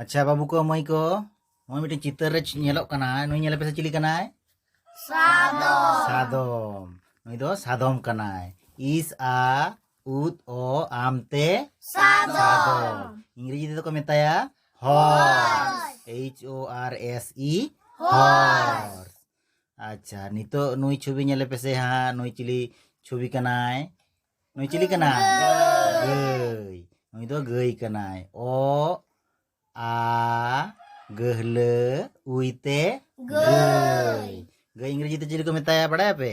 ᱟᱪᱪᱷᱟ ᱵᱟᱹᱵᱩ ᱠᱚ ᱢᱟᱹᱭ ᱠᱚ ᱱᱚᱜᱼᱚᱭ ᱢᱤᱫᱴᱮᱱ ᱪᱤᱛᱟᱹᱨ ᱨᱮ ᱧᱮᱞᱚᱜ ᱠᱟᱱᱟ ᱱᱩᱭ ᱧᱮᱞ ᱯᱮᱥᱮ ᱪᱤᱞᱤ ᱠᱟᱱᱟᱭ ᱥᱟᱫᱚᱢ ᱥᱟᱫᱚᱢ ᱱᱩᱭ ᱫᱚ ᱥᱟᱫᱚᱢ ᱠᱟᱱᱟᱭ ᱤᱥ ᱟ ᱩᱫ ᱚ ᱟᱢᱛᱮ ᱥᱟᱫᱚᱢ ᱤᱝᱨᱮᱡᱤ ᱛᱮᱫᱚ ᱠᱚ ᱢᱮᱛᱟᱭᱟ horse H O R S E horse ᱟᱪᱪᱷᱟ ᱱᱤᱛᱚᱜ ᱱᱩᱭ ᱪᱷᱚᱵᱤ ᱧᱮᱞᱮ ᱯᱮᱥᱮ ᱦᱟᱸᱜ ᱱᱩᱭ ᱪᱤᱞᱤ ᱪᱷᱚᱵᱤ ᱠᱟᱱᱟᱭ ᱱᱩᱭ ᱪᱤᱞᱤ ᱠᱟᱱᱟᱭ ᱜᱟᱹᱭ ᱱᱩᱭ ᱫᱚ ᱜᱟᱹᱭ ᱠᱟᱱᱟᱭ ᱚ ᱟ ᱜᱟᱹᱦᱞᱟᱹ ᱩᱭᱛᱮ ᱜᱟᱹᱭ ᱜᱟᱹᱭ ᱤᱝᱨᱮᱡᱤ ᱛᱮ ᱪᱤᱞᱤ ᱠᱚ ᱢᱮᱛᱟᱭᱟ ᱵᱟᱲᱟᱭᱟᱯᱮ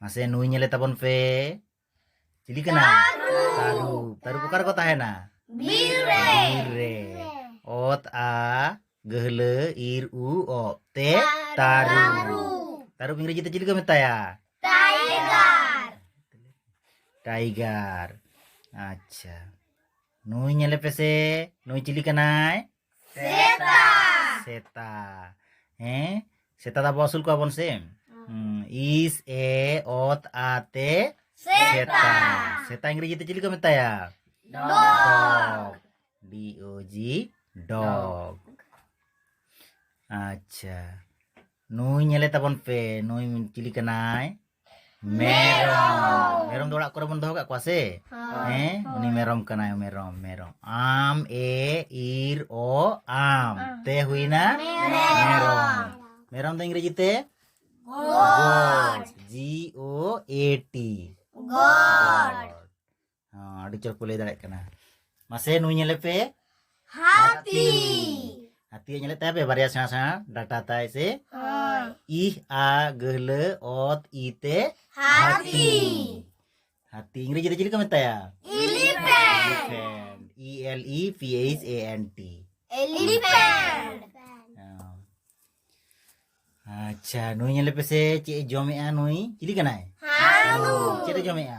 ᱢᱟᱥᱮ ᱱᱩᱭ ᱧᱮᱞᱮ ᱛᱟᱵᱚᱱ ᱯᱮ ᱪᱤᱞᱤ ᱠᱟᱱᱟ ᱛᱟᱹᱨᱩᱵ ᱛᱟᱹᱨᱩᱵ ᱚᱠᱟ ᱨᱮᱠᱚ ᱛᱟᱦᱮᱱᱟ ᱵᱤᱨ ᱨᱮ ᱵᱤᱨ ᱨᱮ ᱚᱛ ᱟ ᱜᱟᱹᱦᱞᱟᱹ ᱤᱨ ᱩ ᱚ ᱛᱮ ᱛᱟᱹᱨᱩᱵ ᱛᱟᱹᱨᱩᱵ ᱤᱝᱨᱮᱡᱤ ᱛᱮ ᱪᱤᱞᱤ ᱠᱚ ᱢᱮᱛᱟᱭᱟ ᱴᱟᱭᱜᱟᱨ ᱴᱟᱭᱜᱟᱨ ᱟᱪᱪᱷᱟ ᱱᱩᱭ ᱧᱮᱞᱮ ᱯᱮᱥᱮ ᱱᱩᱭ ᱪᱤᱞᱤ ᱠᱟᱱᱟᱭ ᱥᱮᱛᱟ ᱦᱮᱸ ᱥᱮᱛᱟ ᱫᱚ ᱟᱵᱚ ᱟᱹᱥᱩᱞ ᱠᱚᱣᱟ ᱵᱚᱱ ᱥᱮ ᱤᱥ ᱮ ᱚᱛ ᱟᱛᱮ ᱥᱮᱛᱟ ᱥᱮᱛᱟ ᱤᱝᱨᱮᱡᱤ ᱛᱮ ᱪᱤᱞᱤ ᱠᱚ ᱢᱮᱛᱟᱭᱟ ᱰᱚᱜ ᱰᱤ ᱳ ᱡᱤ ᱰᱚᱜ ᱟᱪᱪᱷᱟ ᱱᱩᱭ ᱧᱮᱞᱮ ᱛᱟᱵᱚᱱ ᱯᱮ ᱱᱩᱭ ᱪᱤᱞᱤ ᱠᱟᱱᱟᱭ ᱢᱮᱨᱚᱢ ᱢᱮᱨᱚᱢ ᱫᱚ ᱚᱲᱟᱜ ᱠᱚᱨᱮ ᱵᱚᱱ ᱫᱚᱦᱚ ᱠᱟᱜ ᱠᱚᱣᱟ ᱥᱮ ᱦᱮᱸ ᱩᱱᱤ ᱢᱮᱨᱚᱢ ᱠᱟᱱᱟᱭ ᱢᱮᱨᱚᱢ ᱢᱮᱨᱚᱢ ᱟᱢ ᱮ ᱤᱨ ᱚ ᱟᱢ ᱛᱮ ᱦᱩᱭᱱᱟ ᱢᱮᱨᱚᱢ ᱢᱮᱨᱚᱢ ᱫᱚ ᱤᱝᱨᱮᱡᱤ ᱛᱮ ᱜᱚᱰ ᱡᱤ ᱳ ᱮ ᱴᱤ ᱜᱚᱰ ᱟᱹᱰᱤ ᱪᱚᱨᱚᱠ ᱠᱚ ᱞᱟᱹᱭ ᱫᱟᱲᱮᱭᱟᱜ ᱠᱟᱱᱟ ᱢᱟᱥᱮ ᱱᱩᱭ ᱧᱮᱞᱮ ᱯᱮ ᱦᱟᱹᱛᱤ ᱦᱟᱹᱛᱤ ᱧᱮᱞᱮᱫ ᱛᱟᱭ ᱯᱮ ᱵᱟᱨᱭᱟ ᱥᱮᱬᱟ ᱥᱮᱬᱟ ᱰᱟᱴᱟ ᱛᱟᱭ ᱥᱮ ᱤ ᱟ ᱜᱟᱹᱦᱞᱟᱹ ᱚᱛ ᱤ ᱛᱮ ᱦᱟᱹᱛᱤ ᱦᱟᱹᱛᱤ ᱤᱝᱨᱮᱡᱤ ᱨᱮ ᱪᱮᱫ ᱠᱚ ᱢᱮᱛᱟᱭᱟ elephant E L E P H A N T elephant ᱟᱪᱪᱷᱟ ᱱᱩᱭ ᱧᱮᱞᱮ ᱯᱮᱥᱮ ᱪᱮᱫ ᱮ ᱡᱚᱢᱮᱜᱼᱟ ᱱᱩᱭ ᱪᱤᱞᱤ ᱠᱟᱱᱟᱭ ᱪᱮᱫ ᱮ ᱡᱚᱢᱮᱜᱼᱟ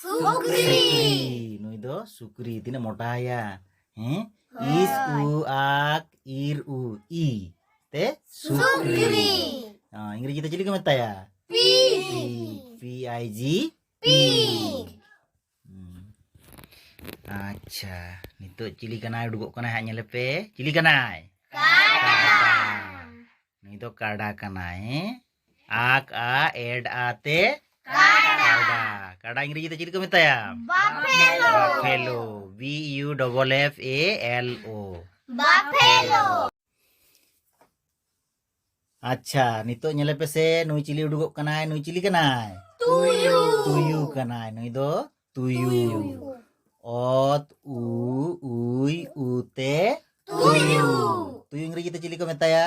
ᱥᱩᱠᱨᱤ ᱱᱩᱭ ᱫᱚ ᱥᱩᱠᱨᱤ ᱛᱤᱱᱟᱹᱜ ᱢᱚᱴᱟᱭᱟ ᱦᱮᱸ ᱤᱥ ᱩ ᱟᱠ ᱤᱨ ᱩ ᱤ ᱛᱮ ᱥᱩᱠᱨᱤ ᱤᱝᱨᱮᱡᱤ ᱛᱮ ᱪᱤᱞᱤ ᱠᱚ ᱢᱮᱛᱟᱭᱟ pig P I G pig ᱟᱪᱪᱷᱟ ᱱᱤᱛᱚᱜ ᱪᱤᱞᱤ ᱠᱟᱱᱟᱭ ᱩᱰᱩᱠᱚᱜ ᱠᱟᱱᱟᱭ ᱦᱟᱸᱜ ᱧᱮᱞᱮ ᱯᱮ ᱪᱤᱞᱤ ᱠᱟᱱᱟᱭ ᱠᱟᱰᱟ ᱱᱩᱭ ᱫᱚ ᱠᱟᱰᱟ ᱠᱟᱱᱟᱭ ᱟᱠ ᱟ ᱮᱰ ᱟᱛᱮ ᱠᱟᱰᱟ ᱠᱟᱰᱟ ᱤᱝᱨᱮᱡᱤ ᱛᱮ ᱪᱮᱫ ᱠᱚ ᱢᱮᱛᱟᱭᱟ buffalo buffalo B U double F A L O buffalo ᱟᱪᱪᱷᱟ ᱱᱤᱛᱚᱜ ᱧᱮᱞᱮ ᱯᱮᱥᱮ ᱱᱩᱭ ᱪᱤᱞᱤ ᱩᱰᱩᱠᱚᱜ ᱠᱟᱱᱟᱭ ᱱᱩᱭ ᱪᱤᱞᱤ ᱠᱟᱱᱟᱭ ᱛᱩᱭᱩ ᱛᱩᱭᱩ ᱠᱟᱱᱟᱭ ᱱᱩᱭ ᱫᱚ ᱛᱩᱭᱩ ᱚᱛ ᱩ ᱩᱭ ᱩᱛᱮ ᱛᱩᱭᱩ ᱛᱩᱭᱩ ᱤᱝᱨᱮᱡᱤ ᱛᱮ ᱪᱤᱞᱤ ᱠᱚ ᱢᱮᱛᱟᱭᱟ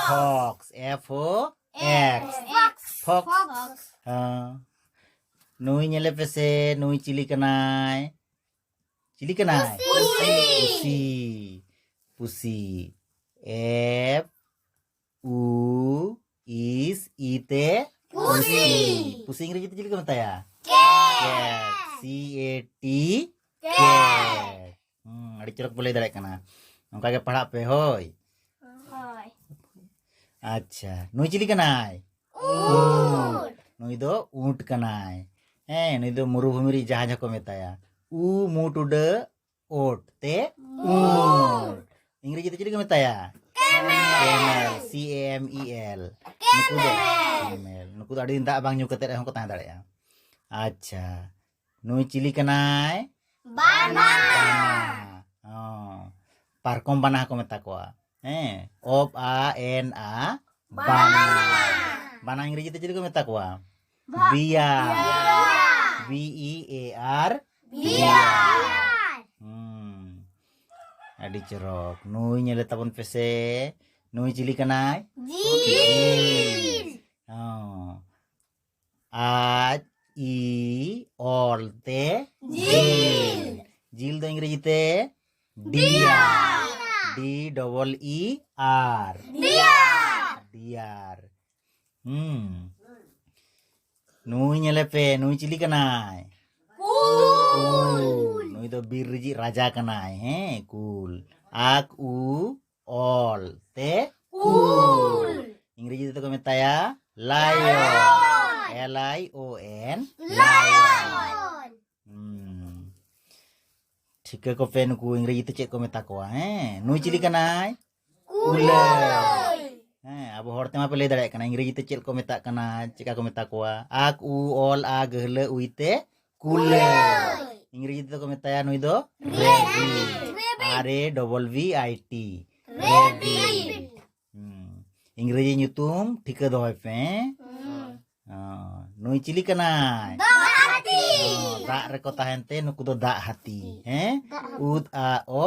fox F O X fox ᱱᱩᱭ ᱧᱮᱞᱮ ᱯᱮᱥᱮ ᱱᱩᱭ ᱪᱤᱞᱤ ᱠᱟᱱᱟᱭ ᱪᱤᱞᱤ ᱠᱟᱱᱟᱭ ᱯᱩᱥᱤ ᱯᱩᱥᱤ ᱮᱯᱷ ᱩ ᱤᱥ ᱤ ᱛᱮ ᱯᱩᱥᱤ ᱯᱩᱥᱤ ᱤᱝᱨᱮᱡᱤ ᱛᱮ ᱪᱮᱫ ᱠᱚ ᱢᱮᱛᱟᱭᱟ ᱠᱮᱴ ᱥᱤ ᱮ ᱴᱤ ᱠᱮᱴ ᱟᱹᱰᱤ ᱪᱚᱨᱚᱠ ᱯᱮ ᱞᱟᱹᱭ ᱫᱟᱲᱮᱭᱟᱜ ᱠᱟᱱᱟ ᱱᱚᱝᱠᱟ ᱜᱮ ᱯᱟᱲᱦᱟᱜ ᱯᱮ ᱦᱳᱭ ᱟᱪᱪᱷᱟ ᱱᱩᱭ ᱪᱤᱞᱤ ᱠᱟᱱᱟᱭ ᱱᱩᱭ ᱫᱚ ᱩᱸᱴ ᱠᱟᱱᱟᱭ ᱦᱮᱸ ᱱᱩᱭ ᱫᱚ ᱢᱩᱨᱩᱵᱷᱩᱢᱤ ᱨᱤᱡ ᱡᱟᱦᱟᱸ ᱡᱟᱦᱟᱸ ᱠᱚ ᱢᱮᱛᱟᱭᱟ ᱩ ᱢᱩᱴ ᱩᱰᱟᱹᱜ ᱳᱴ ᱛᱮ ᱳᱴ ᱤᱝᱨᱮᱡᱤ ᱛᱮ ᱪᱮᱫ ᱠᱚ ᱢᱮᱛᱟᱭᱟ camel C M E L ᱱᱩᱠᱩ ᱫᱚ ᱠᱮᱢᱮᱞ ᱱᱩᱠᱩ ᱫᱚ ᱟᱹᱰᱤ ᱫᱤᱱ ᱫᱟᱜ ᱵᱟᱝ ᱧᱩ ᱠᱟᱛᱮ ᱨᱮᱦᱚᱸ ᱠᱚ ᱛᱟᱦᱮᱸ ᱫᱟᱲᱮᱭᱟᱜᱼᱟ ᱟᱪᱪᱷᱟ ᱱᱩᱭ ᱪᱤᱞᱤ ᱠᱟᱱᱟᱭ ᱵᱟᱱᱟ ᱯᱟᱨᱠᱚᱢ ᱵᱟᱱᱟ ᱦᱚᱸᱠᱚ ᱢᱮᱛᱟ ᱠᱚᱣᱟ ᱦᱮᱸ ᱚᱯ ᱟ ᱮᱱ ᱟ ᱵᱟᱱᱟ ᱵᱟᱱᱟ ᱤᱝᱨᱮᱡᱤ ᱛᱮ ᱪᱮᱫ ᱠᱚ ᱢᱮᱛᱟ ᱠᱚᱣᱟ ᱵᱤᱭᱟ ᱵᱤ ᱤ ᱮ ᱟᱨ ᱵᱤᱭᱟ ᱟᱹᱰᱤ ᱪᱚᱨᱚᱠ ᱱᱩᱭ ᱧᱮᱞᱮ ᱛᱟᱵᱚᱱ ᱯᱮᱥᱮ ᱱᱩᱭ ᱪᱤᱞᱤ ᱠᱟᱱᱟᱭ ᱡᱤᱞ ᱟᱡ ᱤ ᱚᱞ ᱛᱮ ᱡᱤᱞ ᱡᱤᱞ ᱫᱚ ᱤᱝᱨᱮᱡᱤ ᱛᱮ dear D double E R dear dear ᱦᱩᱸ ᱱᱩᱭ ᱧᱮᱞᱮ ᱯᱮ ᱱᱩᱭ ᱪᱤᱞᱤ ᱠᱟᱱᱟᱭ ᱱᱩᱭ ᱫᱚ ᱵᱤᱨ ᱨᱤᱡᱤᱡ ᱨᱟᱡᱟ ᱠᱟᱱᱟᱭ ᱦᱮᱸ ᱠᱩᱞ ᱟᱠ ᱩ ᱚᱞ ᱛᱮ ᱠᱩᱞ ᱤᱝᱨᱮᱡᱤ ᱛᱮᱫᱚ ᱠᱚ ᱢᱮᱛᱟᱭᱟ ᱞᱟᱭᱚᱱ ᱮᱞ ᱟᱭ ᱳ ᱮᱱ ᱞᱟᱭᱚᱱ ᱴᱷᱤᱠᱟᱹ ᱠᱚᱯᱮ ᱱᱩᱠᱩ ᱤᱝᱨᱮᱡᱤ ᱛᱮ ᱪᱮᱫ ᱠᱚ ᱢᱮᱛᱟ ᱠᱚᱣᱟ ᱦᱮᱸ ᱱᱩᱭ ᱪᱤᱞᱤ ᱠᱟᱱᱟᱭ ᱠᱩᱞᱟᱹᱭ ᱦᱮᱸ ᱟᱵᱚ ᱦᱚᱲ ᱛᱮᱢᱟ ᱯᱮ ᱞᱟᱹᱭ ᱫᱟᱲᱮᱭᱟᱜ ᱠᱟᱱᱟ ᱤᱝᱨᱮᱡᱤ ᱛᱮ ᱪᱮᱫ ᱠᱚ ᱢᱮᱛᱟᱜ ᱠᱟᱱᱟ ᱪᱮᱫᱠᱟ ᱠᱚ ᱢᱮᱛᱟ ᱠᱚᱣᱟ ᱟᱠ ᱩ ᱚᱞ ᱟ ᱜᱟᱹᱦᱞᱟᱹ ᱩᱭ ᱛᱮ ᱠᱩᱞᱟᱹᱭ ᱤᱝᱨᱮᱡᱤ ᱛᱮᱫᱚ ᱠᱚ ᱢᱮᱛᱟᱭᱟ ᱱᱩᱭ ᱫᱚ ᱟᱨ ᱮ ᱰᱚᱵᱚᱞ ᱵᱷᱤ ᱟᱭ ᱴᱤ ᱤᱝᱨᱮᱡᱤ ᱧᱩᱛᱩᱢ ᱴᱷᱤᱠᱟᱹ ᱫᱚᱦᱚᱭ ᱯᱮ ᱱᱩᱭ ᱪᱤᱞᱤ ᱠᱟᱱᱟᱭ ᱫᱟᱜ ᱨᱮᱠᱚ ᱛᱟᱦᱮᱱ ᱛᱮ ᱱᱩᱠᱩ ᱫᱚ ᱫᱟᱜ ᱦᱟᱹᱛᱤ ᱦᱮᱸ ᱩᱫ ᱟ ᱚ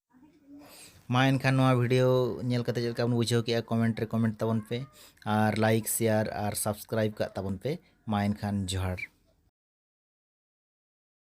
ᱢᱟ ᱮᱱᱠᱷᱟᱱ ᱱᱚᱣᱟ ᱵᱷᱤᱰᱤᱭᱳ ᱧᱮᱞ ᱠᱟᱛᱮ ᱪᱮᱫ ᱞᱮᱠᱟ ᱵᱚᱱ ᱵᱩᱡᱷᱟᱹᱣ ᱠᱮᱜᱼᱟ ᱠᱚᱢᱮᱱᱴ ᱨᱮ ᱠᱚᱢᱮᱱᱴ ᱛᱟᱵᱚᱱ ᱯᱮ ᱟᱨ ᱞᱟᱭᱤᱠ ᱥᱮᱭᱟᱨ ᱟᱨ ᱥᱟᱵᱥᱠᱨᱟᱭᱤᱵ ᱠᱟᱜ ᱛᱟᱵᱚᱱ ᱯᱮ ᱢᱟ ᱮᱱᱠᱷᱟᱱ ᱡᱚᱦᱟᱨ